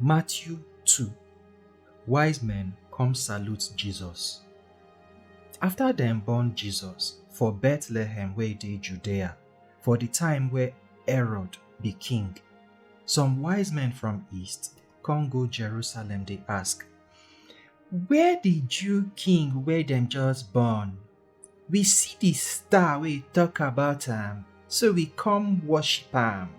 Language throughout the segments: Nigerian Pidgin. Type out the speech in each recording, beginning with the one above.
Matthew 2 Wise men come salute Jesus. After dem born Jesus for Bethlehem wey dey Judea for the time wey Herod be king, some wise men from east come go Jerusalem dey ask, Where the Jew king wey dem just born We see di star wey tok about am, so we come worship am.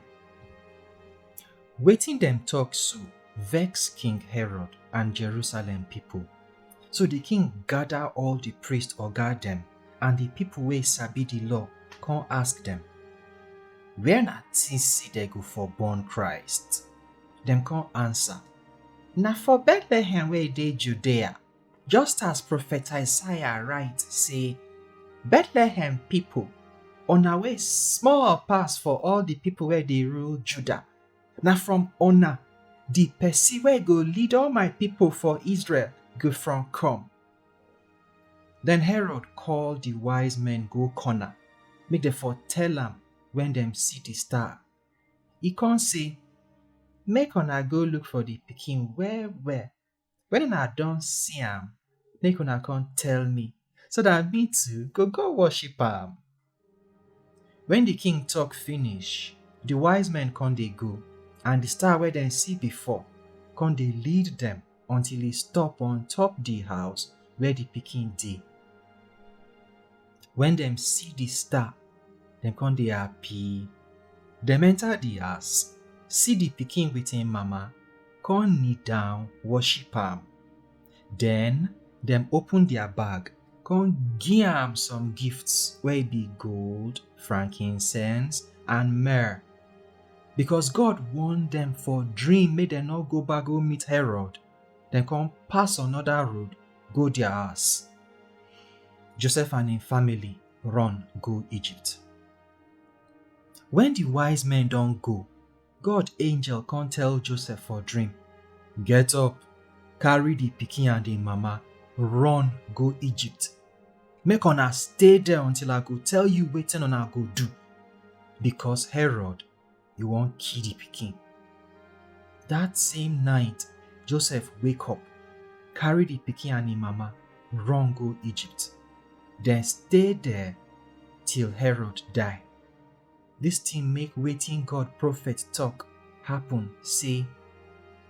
Wetin dem tok so vex King Herod and Jerusalem pipo. So di king gada all di priest oga dem and di pipo wey sabi di law come ask dem, Where una tink sey dem go for born Christ? Dem come ansa, Na for Bethlehem wey dey Judea. Just as Prophet Isaiah write say, Bethlehem people, una wey small pass for all the people wey dey rule Judah, na from una the person wey go lead all my people for Israel go from come. Then Herod call the wise men go corner, make dem for tell am when dem see the star. E come say, Make una go look for the pikin well well When una don see am, make una come tell me, so that me too go go worship am. When the king talk finish, the wise men come dey go, and the star wey dem see before come dey lead dem until e stop on top the house where the pikin dey. When dem see the star, dem come dey happy. Dem enter the house, see the pikin with him mama, come kneel down worship am. Then dem open their bag, come give am some gifts wey be gold, frankincense and myrrh. Because God warn dem for dream make dem no go back go meet Herod, dem come pass another road go their house. Joseph and im family run go Egypt. When the wise men don go, God angel come tell Joseph for dream, Get up, carry the pikin and im mama, run go Egypt. Make una stay there until I go tell you wetin una go do, because Herod you wan kill the pikin. That same night, Joseph wake up, carry the pikin and him mama, run go Egypt. Then stay there till Herod die. This thing make waiting God prophet talk happen say,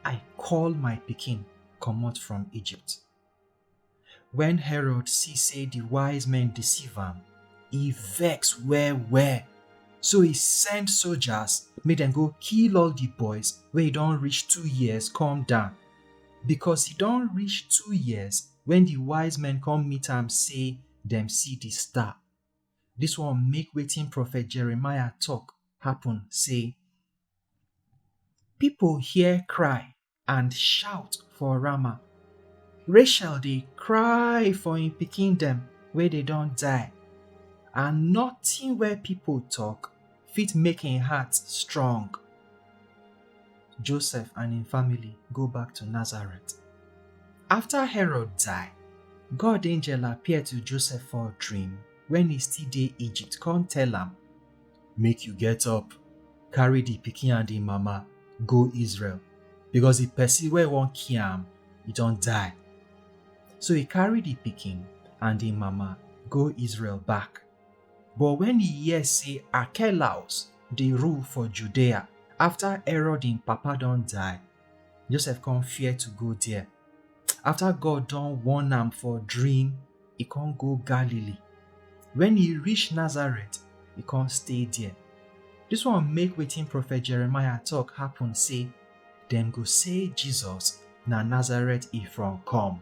I call my pikin comot from Egypt. When Herod see say the wise men deceive am, he vex well well. So he send soldiers make dem go kill all the boys wey don reach two years come down. Because he don reach two years when the wise men come meet am say dem see the star. This one make wetin prophet Jeremiah talk happen say, People hear cry and shout for Rama. Rachel dey cry for im pikin dem wey dey don die, and nothing wey people talk fit make im heart strong. Joseph and im family go back to Nazareth. After Herod die, God angel appear to Joseph for dream when e still dey Egypt come tell am make you get up, carry the pikin and the mama go Israel, because the person where won't kill him, he don't die. So he carry the pikin and the mama go Israel back. But when he hear say Archelaus dey rule for Judea after Herod him papa don die, Joseph come fear to go there. after God don warn am for dream, e con go Galilee. When e reach Nazareth, e con stay there. This one make wetin prophet Jeremiah talk happen say, dem go say Jesus na Nazareth e from come.